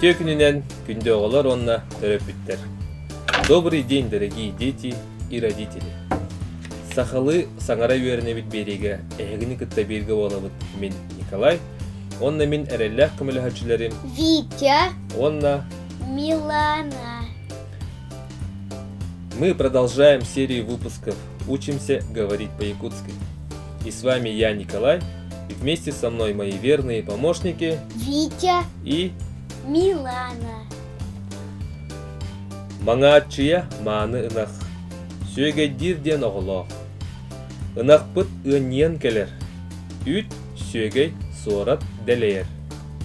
Үтүө күнүнэн күндү оҕолор уонна төрөппүттэр. Добрый день, дорогие дети и родители! Сахалыы саҥара үөрэнэбит биэриигэ эһигини кытта бииргэ буолабыт мин Николай, уонна мин эрэллээх көмөлөһөөччүлэрим Витя, уонна Милана. Мы продолжаем серию выпусков «Учимся говорить по-якутски». И с вами я, Николай, и вместе со мной мои верные помощники Витя и Милана. Маҥааччыйа мааны ынах. Сүөгэйдиир диэн оҕолоох. Ынахпыт ыанньыйан кэлэр. Үүт Сүөгэй, суорат, дэлэйэр.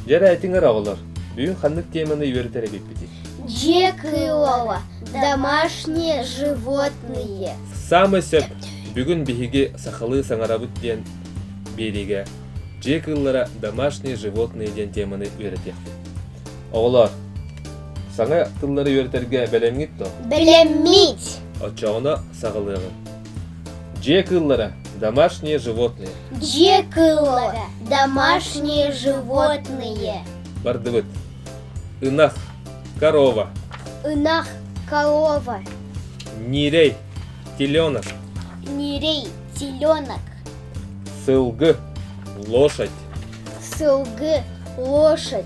Дьэ эрэ этиҥ өр оҕолор, бүгүн ханнык теманы үөрэтэр эбиппитий? Дьиэ кыылова, домашние животные. Саамай сөп. Бүгүн биһиги сахалыы саҥарабыт диэн биэриигэ дьиэ кыыллара домашние животные диэн теманы үөрэтиэхпит. Оҕолоор, саҥа тыллары үөрэтэргэ бэлэмҥит дуо? Бэлэммит! Оччоҕуна саҕалыаҕыҥ. Дьиэ кыыллара – домашние животные. Дьиэ кыыллара – домашние животные. Бардыбыт. Ынах – корова. Ынах – корова. Нирей – теленок. Нирей – теленок. Сылгы – лошадь. Сылгы – лошадь.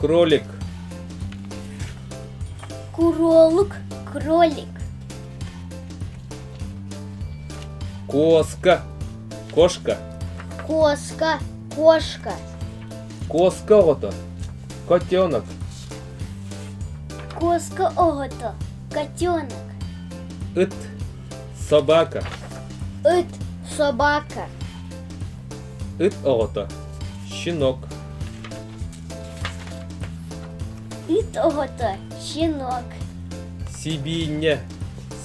Кролик. Кролик, кролик. Кошка. Кошка. Кошка, кошка. Кошка ото. Котенок. Кошка ото. Котенок. Ыт. Собака. Ыт, собака. Ыт ото. Щенок. Ит оҕото щенок. Сибиинньэ.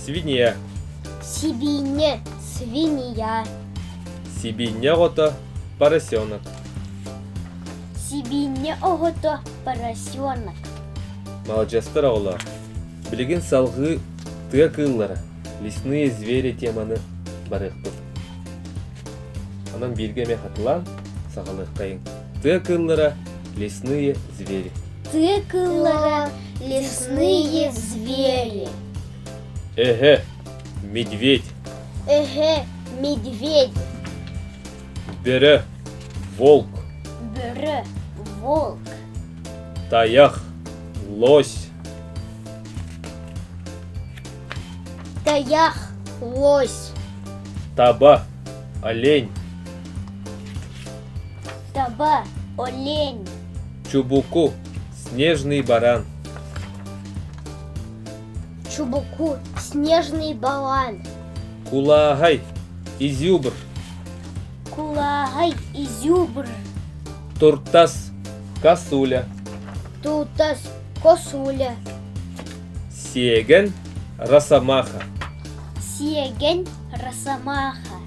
Свинья. Сибиинньэ свинья. Сибиинньэ оҕото поросенок. Сибиинньэ оҕото поросенок. Маладьыастар оҕолоор, билигин салгыы тыа кыыллара, лесные звери теманы барыахпыт. Онон бииргэ эмиэ хатылаан, саҕалыаххайыҥ. Тыа кыыллара лесные звери. Тыа кыыллара лесные звери. Эһэ, медведь. Эһэ, медведь. Бөрө, волк. Бөрө, волк. Таях, лось. Таях, лось. Таба, олень. Саба, олень. Чубуку, снежный баран. Чубуку, снежный баран. Кулааһай, изюбр. Кулааһай, изюбр. Туртас, косуля. Туртас, косуля. Сиеген, росомаха. Сиеген, росомаха.